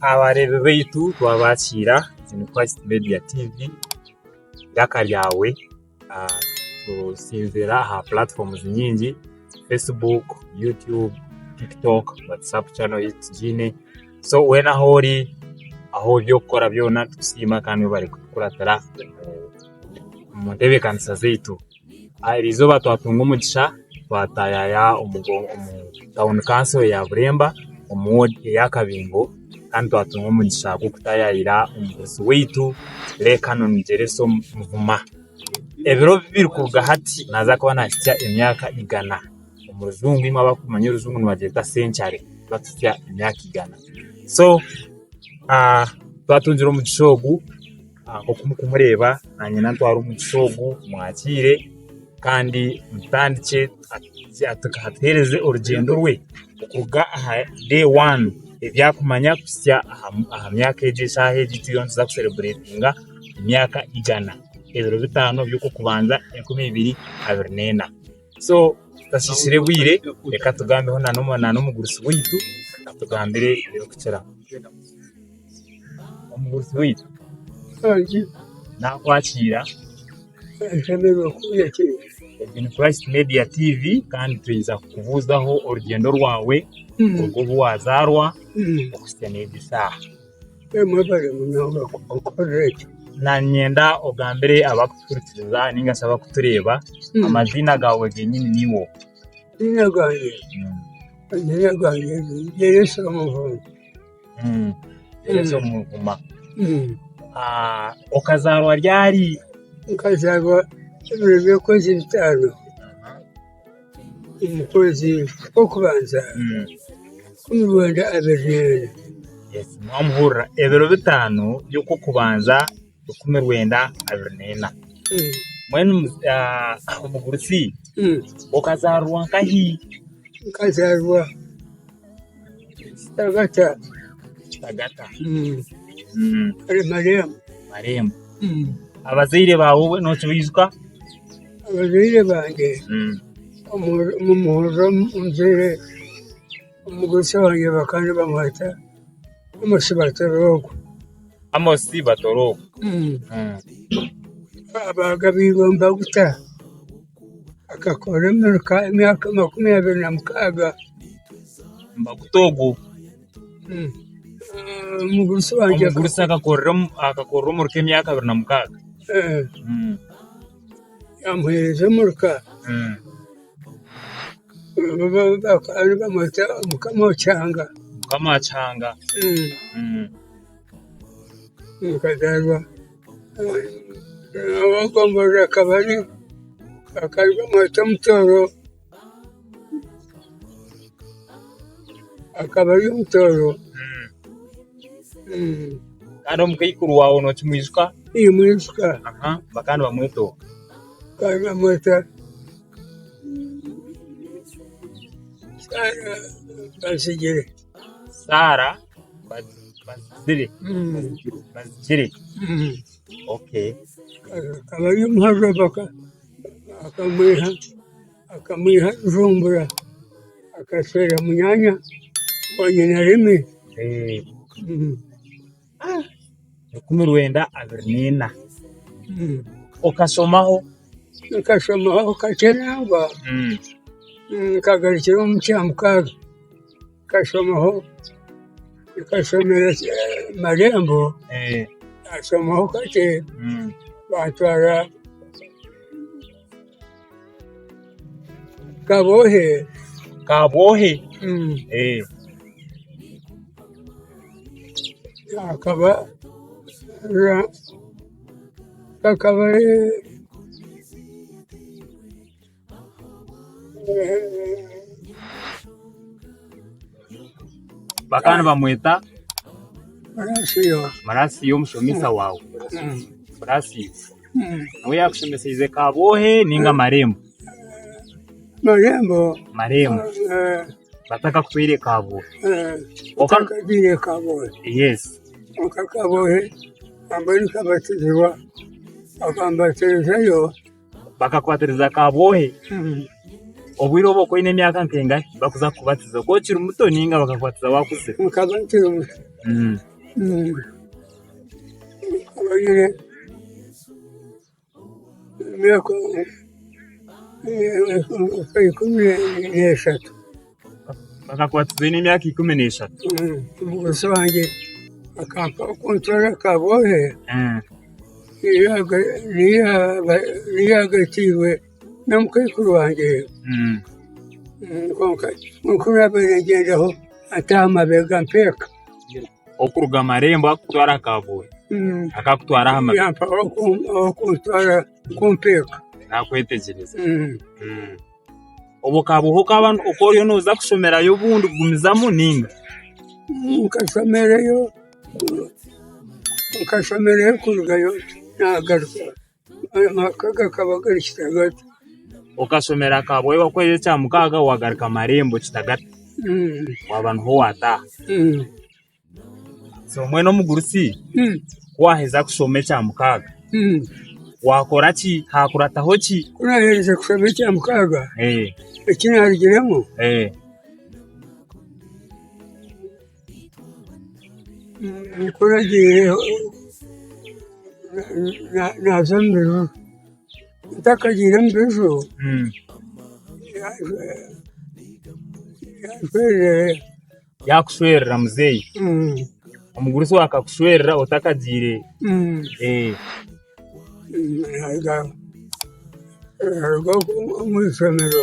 Abareebi baitu twabaakiira ni Christ Media TV, eiraka ryawe turitsinzira aha platforms nyingi Facebook, YouTube, TikTok, WhatsApp channel ei tugiine so weena ahu ori ahu eby'okukora byona nitukusiima kandi webare kutukuratira omu ntebeekanisa zaitu. Eri izooba twatunga omugisha twatayaya omu tauni kanso eya Buremba omu woodi eya Kabingo kandi twatunga omugisha gw'okutayayira omugurusi waitu Lekanoni Gyereso Muguma. Ebiro biri kuruga hati naaza kuba nahitsya emyaka igana. Omu rujungu eimwe abarikumanya orujungu nibagyeta senchari kuba tuhitsya emyaka igana. So twatungire omugisha ogu nk'oku murikureeba naanye nantwara omu musyo ogu mwakiire kandi mutandikye atuheereze orugyendo rwe kuruga aha day one ebi arikumanya kuhitsya aha myaka egi eshaaha egi ei turiyo nituza kushereburetinga emyaka igana ebiro bitaano eby'okw'okubanza enkumi ibiri abiri n'ena. So tutasisire bwire reka tugambeho na n'omugurusi waitu atugambire ebirikukiraho. Omugurusi waitu nakwakira Egen Christ Media TV kandi twija kukubuzaho orugyendo rwawe kuruga obu wazarwa okuhisya n'egi saha. Niinyenda ogambire abarikutuhurikiza nainga shi abarikutureeba amaziina gaawe g'enyini niiwe ou? Eiziina ryangye eiziina ryangye niryitwa Elisa Muvuma. Elisa Muvuma. Okazaarwa ryari? Nkazaarwa ebiro by'okwezi bitaano. Omu kwezi kw'okubanza kumi bwenda abeejuriremu. Mwamuhurira, ebiro bitaano by'okw'okubanza ikumi rwenda abiri n'ena. Mbwenu omugurusi okazaarirwa nkahi? Nkazaarirwa. Kitagata. Kitagata. Ari Marembo. Marembo. Abazaire baawe obwe nookibaijuka? Abazaire bangye omuhurira omuzaire omugurusi wangye bakaba bamweta Amosi Batorooko. Amosi Batorooko. Baagabiirwe Mbaguta. Akakora emiruka emyaka makumi abiri na mukaaga. Maguta ogwo. Omugurusi wangye. Omugurusi akakorera omuruka emyaka abiri na mukaaga. Yamuheereza omuruka. Bamweta Mukama wa Kihanga. Mukama wa Kihanga. Nikazaarwa. Abakomborere akaba ari akari bamweta omutooro, akaba ari omutooro. Kandi omukaikuru waawe nookimwijuka? Nimwijuka. Bakaba nibamweta oku? Bakaba nibamweta Bazigye. Saara bazigire bazigire okay akaba ari omuhaji ovaga akamwiha akamwiha bujumbura akasherura munyaanya wa nyina rimi. rukumi rwenda abiri n'ina okasomaho nkashomaho kakye nangwa nkagarukira omu kya mukaaga nkashomaho nkashomera marembo nkashomaho kakye bantwara Kabwohe. Kabwohe. Mm. Eh. Akaba ra kakaba Bakaba nibamweta Marasiyo. Marasiyo omushomesa waawe. Mm. Marasiyo. Niwe yaakushemeseize kabwohe ninga marembo? Marembo. Marembo. Eh, Batakakutwaire kabwohe. eh, Oka- Bakatwire kabwohe. Yes. Oka kabwohe amba nikabatizibwa bakambatirizayo. Bakakwatiriza kabwohe Mm. obwire obu okoine emyaka nkengahi bakuza kukubatiza oku okiri muto ninga bakakukwatiza wakuzire? Nkaba nkiri muto. Mm. Mm. Nkorire emyaka ikumi n'eshatu. Bakakwatiza oine emyaka ikumi n'eshatu? Omugurusi wangye akampa kuntwara aha kabwohe, niyo yagatiirwe n'omukaikuru wangye. Kwonka nk'oku naabaire ningyenda ho ataaha mabega mpeka. okuruga aha marembo akakutwara aha kaboori akakutwara aha mabega okuntwara kumpa eka nakwetegyereza obwo kaba obu okaba oriyo noza kushomerayo obundi kugumizamu ninga nkashomereyo nkashomereyo kurugayo nagaruka Amaka gakaba gari Kitagata. Okashomera Kabwera okwezi ekya mukaaga wagaruka Marembo Kitagata waba niho wataaha. So mbwenu omugurusi ku waaheza kushoma ekya mukaaga waakora ki? Haakurataho ki? Ku naaherize kushoma ekya mukaaga eki naarugiremu Nkuragiire naaza omu biro, ntakagiire omu biro yaakushwerera muzeeyi, omugurusi waawe akakushwerera otakagiire. Naaruga omu ishomero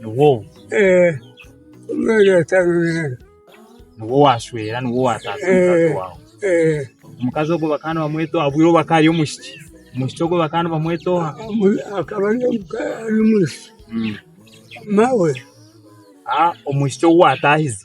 niwe ou? Eeh omwana atanunura. Niwe owashwera niwe owataasa omukazi Eeh waawe. eeh Omukazi ogwo bakaba nibamweta oha bwire obu akaba ari omwishiki? Omwishiki ogwo bakaba nibamweta oha? Omu- akaba ari omuka ari omwishiki mawe. Ah omwishiki ou waataahize.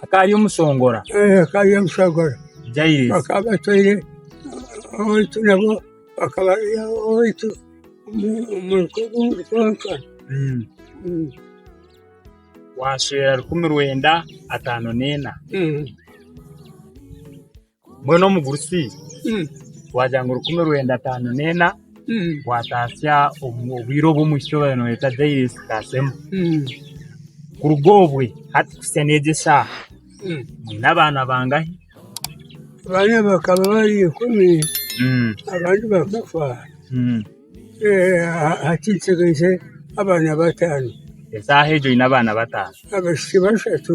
Hakaba hariyo omushongora. Eh, hakaba hariyo omushongora. Jairesi. Bakaba batwaire owaitu nabo bakaba bari owaitu omu kwonka. Mm. Mm. Waashwera rukumi rwenda ataano n'ena. Mm. Mbwenu omugurusi waagira ngu rukumi rwenda ataano n'ena waatatsya obwire obu omu ishomero nibeeta Jairesi Kasemo, kuruga obwe hati kuhitsya n'egi eshaaha mwine abaana bangahi? Abaana bakaba bari ikumi abandi bakafa, hakiitsigaire abaana bataano. Eshaaha egyo oine abaana bataano? Abaishiki bashatu.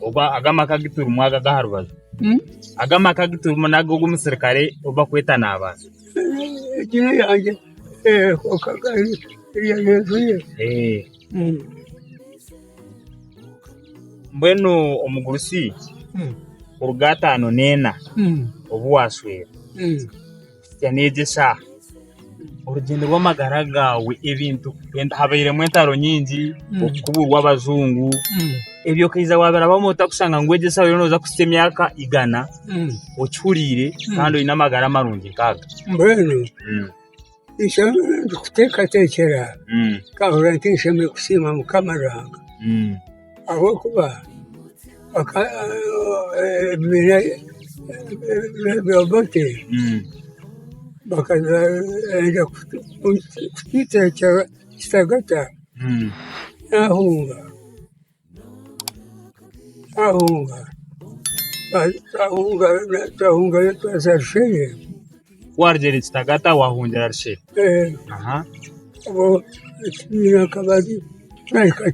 ogu aga amaka agu turimu aga aga aha rubaju, aga amaka agu turimu naga ogu omusirikare ogu barikweta Nabaasa. Eiziina ryangye Kagari erya Yesu ye. Eh, Mbwenu omugurusi kuruga ataano n'ena obu waashwera. Twagira neegyesa orugyendo rw'amagara gaawe ebintu wenda habairemu entaro nyingi okukuburwa abajungu ebyo okaiza wabirabamu ota kushanga ngu egi enshaho nooza kuhitsya emyaka igana okihuriire kandi oine amagara marungi nk'aga? Mbwenu nikyo ndikuteekateekyera nkahurira nti nshemereire kusiima Mukama Ruhanga. ahabw'okuba ebibiina bya Obote bakaza kwenda kutwicwa kitagata naahunga, naahunga, twahungayo twaza Bushenyi Warugire Kitagata wahungira Rushere? Aha. Nyakabari nahika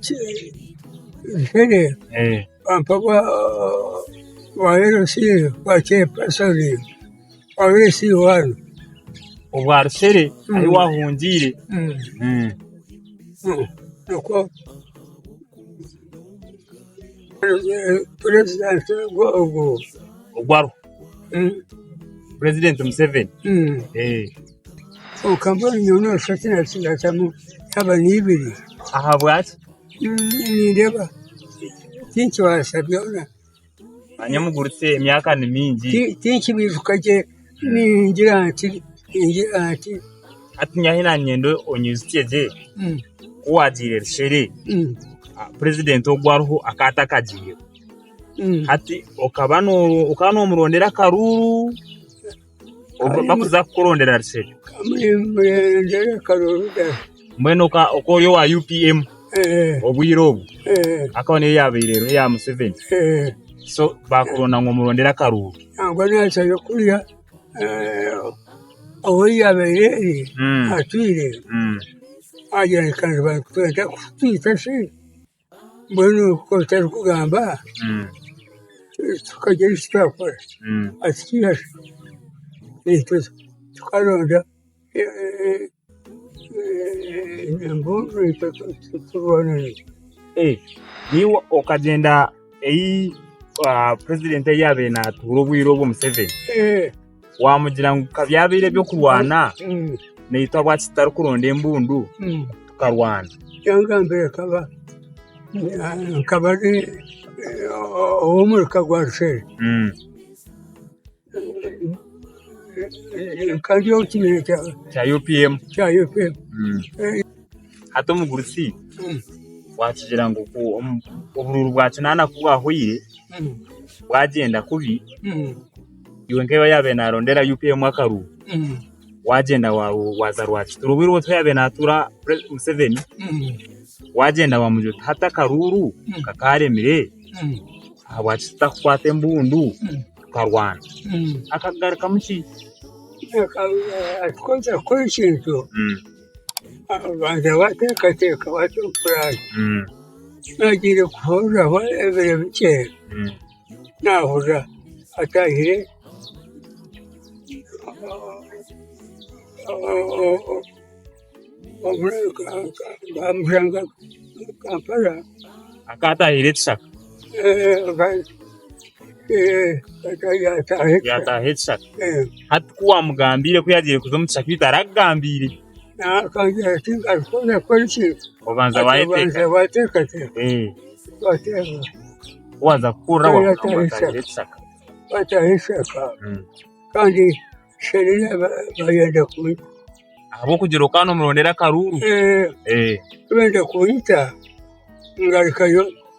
Rushere Eh. bampa bwa bwa LC bwa chairperson bwa LC one. Obwa Rushere ahi wahungiire. Mm. Mm. Mm. Nikwo purezidenti ogwo ogwo. Ogwaruho. purezidenti museveni kwonka mbwenu nyowe noshusha tinakingatamu shaba neibiri ahabwaki nindeeba tinkibaasa byona manya omugurutse emyaka ni mingi tinkibijuka gye ningira nti ningira nti hati nyahi nanyenda onyijutsye gye kuwagiire rushere purezidenti ogu ariho akaba atakagiireho Hati okaba okaba nomurondera akaruuru bakuza kukurondera ruseri mbwenu oka ori owa UPM obwire obwo akaba niyo yabaire eruho eya Museveni so bakuronda ngu omurondere akaruuru nangwa nacwayo kurya owoyabaire eri atwire agira ngu reka nze bankutware ntakutwita shi. Mbwenu kwonka otarikugamba tukarya eki twakora tukaronda embundu itwe turwane nazo. Naiwe okagyenda ahi purezidenti ahi yaabaire naatuura obwire obwo Museveni? Waamugira ngu ka byabaire eby'okurwana, naitwe ahabwaki tutarikuronda embundu tukarwana? Kyangambire nkaba nkaba ndi ow'omuri ka gwa Rushere. Nkari omu kibiina kya UPM. Hati omugurusi waakigira ngu ku oburuuru bwa kinaana ku bwahwaire, bwagyenda kubi. iwe nka yaabaire naarondera UPM akaru waagyenda waaza Rwakitura obwire obwo tihaine yaabaire naatuura Museveni waagyenda waamubwira oti hati akaruuru nkakaaremire ahabwaki tutakukwata embundu tukarwana akakugarukamu ki? Akakworeka ku ekintu waabanza waateekateeka waateekateeka naagiire kuhurira ebiro bikye naahurira ataahire Kampala. Akaba ataahire ekishaka. Yaataaha ekishaka. Hati ku waamugambiire ku yaagiire kuza omu kishaka ei tarakugambiire. Akagira ati, Ngaruka oze kukora ki? Obanza waayeteekateeka. Ku waaza kuhurira waagamba ngu ekishaka. Waataaha ekishaka kandi sherere baayenda kunyita. Ahabw'okugira okaba noomurondera akaruuru. Baayenda kunyita ngarukayo.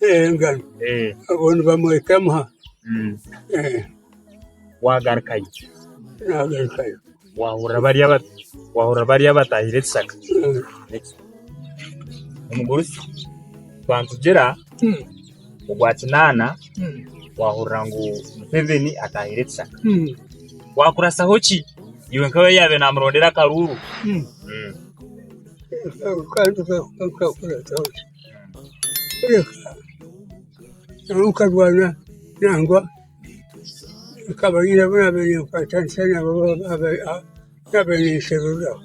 engaro obwo nibamweta emuha. Wagarukayo? Nagarukayo. Wahurira bariya batahire ekishaka? Omugurusi twantugira ogwa kinaana wahurira ngu Museveni atahire ekishaka. Wakurasaho ki iwe nkawe yaabaire namurondera akaruuru? nangwa nkarwana nangwa nkaba nyine abu naabaire ninkwatanisa nabo abaabaire ninsheruriraho.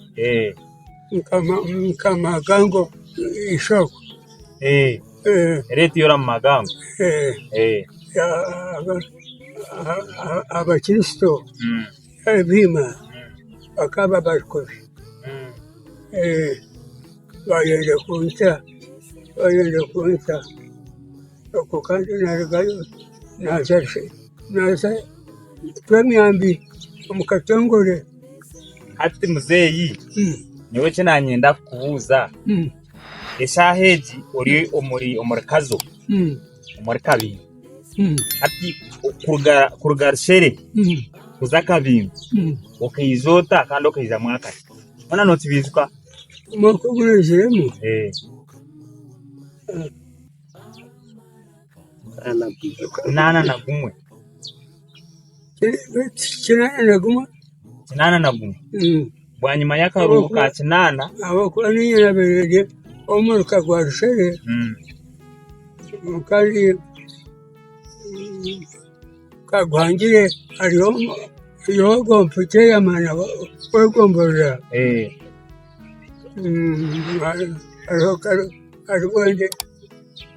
Nkamuha amagambo eishookwe. Abakristo. Ebiina bakaba barikubi, baayenda kuncwa, baayenda kuncwa. Okwo kandi naarugayo naaza shi? Naaza kucwa emyambi omu katongore. Hati muzeeyi nyowe eki naanyenda kukubuuza, eshaaha egi ori omuri omuri Kazo? omuri kabingo hati kuruga rushere kuza kabingo okaiza ota kandi okaizamu akati bona nokibijuka omwaka ogurenziremu eh. nana gumwe kinaana na gumwe kinaana na gumwe bwanyima y'akaruhuko ka kinaana ahabw'okuba niinye nabeire omuruka gwa rushere kandi kaguhangire hariho ogw'omuka eki yamara kwegomborora hariho kare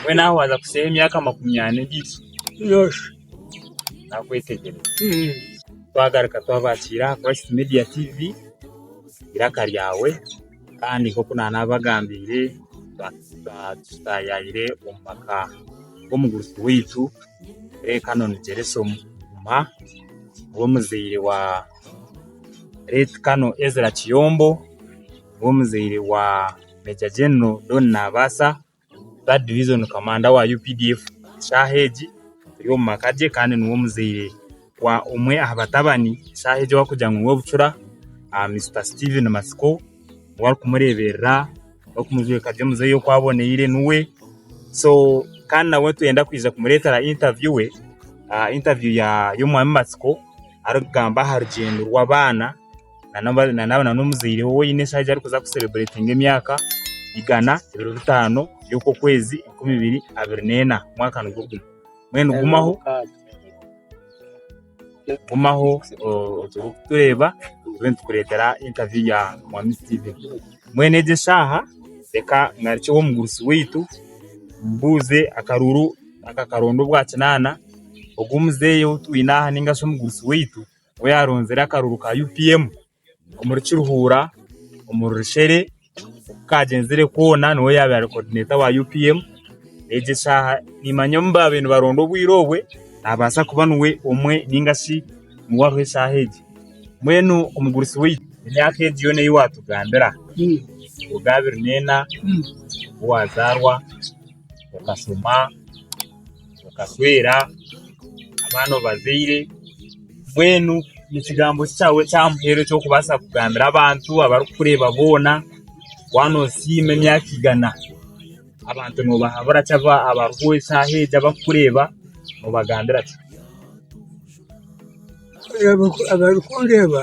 Mbwenu nawe waaza kushushaho emyaka makumi ana endiijo nooshusha naakwetegyereza. Twagaruka twabakiira aha Christ Media TV eiraka ryawe kandi nk'oku naanaabagambiire twayaayire omu maka g'omugurusi waitu Ray Canon Jereson Juma niwe muzaire wa Late Canon Ezra Kiyombo niwe muzaire wa Major General Don Naabaasa ba Division Commander wa updf eshaaha egi ari omu maka ge kandi niwe omuzaire wa omwe aha batabani eshaaha egi abarikugira ngu niwe bucura Mister Steven Matsiko niwe arikumureeberera arikumujweka gye muzeeyi oku aboneire niwe so kandi nawe nitwenda kwija kumureetera interview we interview ya y'omwami Matsiko arikugamba aha rugyendo rw'abaana. n'omuzaire we oine eshaho arikuza kusereditinga emyaka igana ebiro bitaano by'oku okwezi enkumi ibiri abiri neena omwaka nigwo gumwe mbwenu gumaho gumaho orikutureeba tube nitukureetera intaviyu ya mwami Steven mbwenu egi eshaaha reka ngarukye ow'omugurusi waitu mbuuze akaruuru akakaronda obwakinaana ogu omuzeeyi ou twine aha ningashi omugurusi waitu we yaronzire akaruru ka UPM omuri Kiruhura omu Rurushere oku kaagyenzire koona niwe yaabaire ari kodineeta wa UPM. Egi eshaaha nimanya omu baabaire nibaronda obwire obwe naabaasa kuba niwe omwe nainga shi niwe ariho eshaaha egi. Mbwenu omugurusi waitu emyaka egi yoona ei waatugambira kuruga aha abiri neena obu waazaarwa okashoma okashwera abaana obazaire mbwenu ekigambo ki kyawe kyamuheere ekyokubaasa kugambira abantu abarikukureeba boona waaba nosiima emyaka igana abantu nobahabura ki abariho eshaaha egi abarikukureeba nobagambira ki abarikundeeba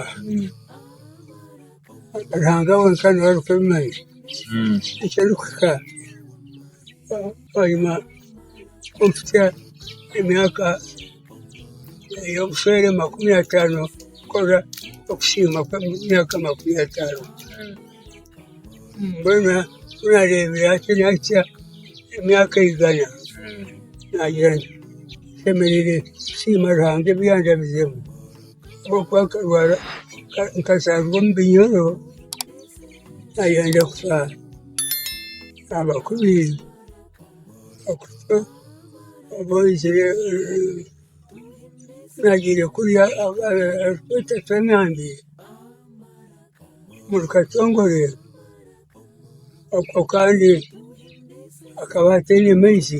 Ruhanga wenka niwe arikubimanya. Ekirikuhika bwanyima k'okutya emyaka ey'obushwere makumi ataano kukora okusiima kw'emyaka makumi ataano. Mbwenu ku naareebire hati naahitsya emyaka igana, naagira nti nshemereire kusiima Ruhanga ebi yandabizemu. Nk'oku akarwara nkazaarwa omu binyoro, nkayenda kushwara. Abakuru baizire naagiire kurya arikweeta Fernandi omuri Katongore akaba kandi ataine maizi.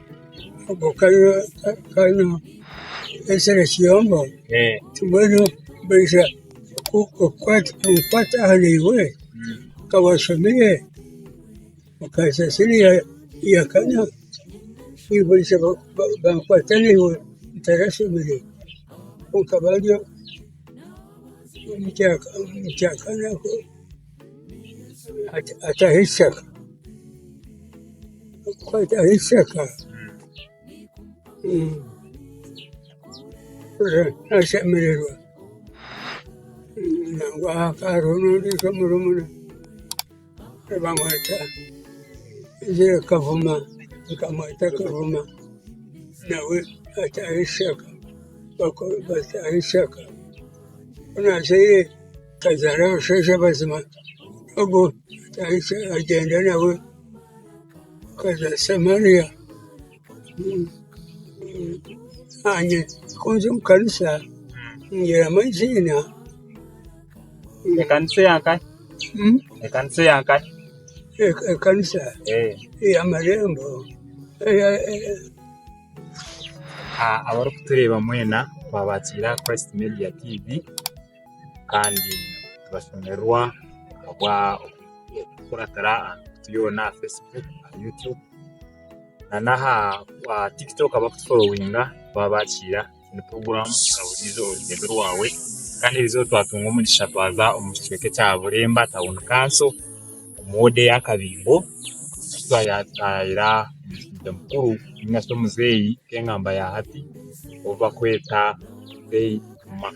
Ogu ka ka n'omushara kiyomba mbwenu baija ku kukwata kukwata aha naiwe ka washomire okaza sene ya ya kana baija ba ba bakwata naiwe otarashomire konka baabi omu kya omu kya kana. ataho ekishaka kwataho ekishaka nashemererwa nangwa hariho n'ondiijo murumuna nibamweta kavuma nikamweta kavuma nawe ataho ekishaka bataho ekishaka ku naazaire Akazaara abashaija bazima, ogwo atandikire nagyenda nawe, akazaara Samaliya, naanye ku nza omu kanisa ningyeramu eiziina. Ekanisa eya nkahe? Ekanisa eya nkahe? Ekanisa? Eeh. Ey'amarembo? Abarikutureeba mwena, twabakiire aha Christ Media TV. kandi nibashemererwa ahabw'okukuratira aha mikutu yoona aha fesibuuku, aha yutubu n'aha tikitooko abarikutufollowinga baba baakihikiirira buri puroguraamu na buri izooba aha rurembo rwawe kandi buri izooba twatunga omugisha twaza omu kicweka ekya Bureemba Town Council omu woodi eya Kabingo ahu twayayayira omusigazi mukuru nainga shi omuzeeyi nk'engamba ya hati ou barikweta Beid Mah.